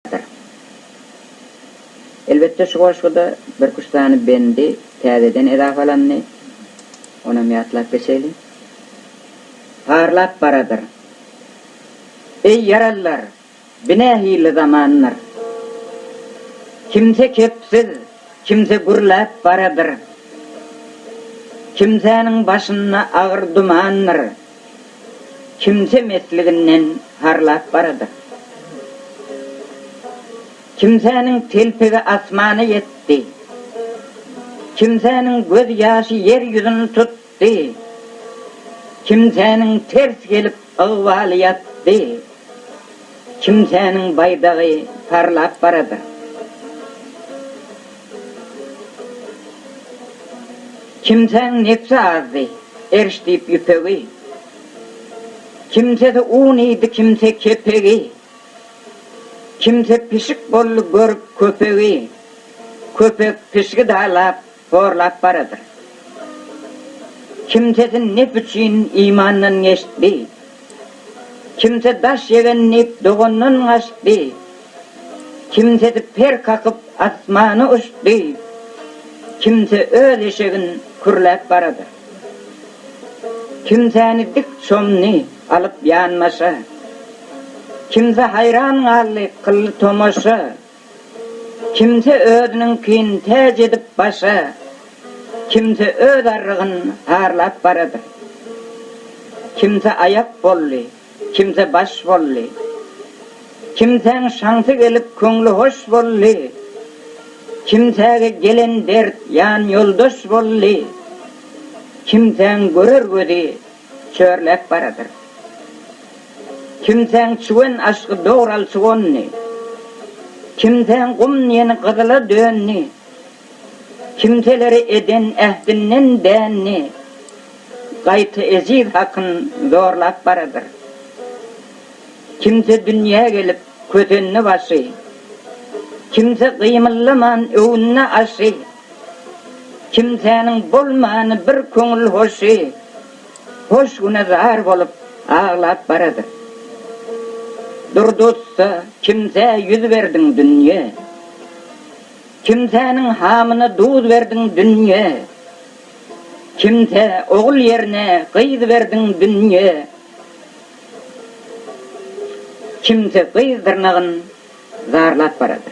ýatyr. Elbetde şu goşguda birküç sany bendi täzeden edafalandy. Onam ýatlap geçeýli. Parlap baradyr. Eý ýaralylar, bi nähili zamandyr. Kimse kepsiz, kimse gürläp baradyr. Kimsäniň başynda agyr dumandyr. Kimse mesliginden parlap baradyr. Kimsäniň telpegi asmana ýetdi. Kimsäniň göz ýaşy ýer ýüzüni tutdy. Kimsäniň ters gelip ygbaly ýatdy. Kimsäniň baýdagy parlap baradyr. Kimsäň nebsi azdy, erş diýip ýüpegi, Kimsesi un iýdi, kimse kepegi, Kimse pişik boldy görüp köpegi, Köpek pişigi dalap, horlap baradyr. Kimsesi nep üçin imandan geçdi, Kimse daş ýegen diýip dogandan gaçdy. Kimse per kakyp asmana uçdy, kimse öz eşegin kürläp barady. Kimsäni dik çomdy alyp ýanbaşa, kimse haýran galdy kyldy tomaşa, kimse özüniňkin täç edip başa, kimse öz arrygyn harlap barady. Kimse aýak boldy. Kimse baş bolly. Kimsäň şansy gelip köňli hoş bolly. Kimsäge gelen dert ýan ýoldaş bolly. Kimsäň görer gözi çörläp baradyr. Kimsäň çüwen aşky dogralçy gonny. Kimsäň gum ýeni gyzyla dönni. Kimselere eden ähdinden dänni gaýta eziz hakyn zorlap baradyr. Kimse dünýä gelip kösenni başy, kimse gymyllaman öwünni aşy, kimsäniň bolmany bir köňül hoşy, hoş güne zar bolup aglap baradyr. Durdy ussa, kimsä ýüz berdiň dünýe? Kimsäniň hamyna duz berdiň dünýe, Kimsä ogul ýerine gyz berdiň dünýe, Kimse gyz dyrnagyn zarlap barada.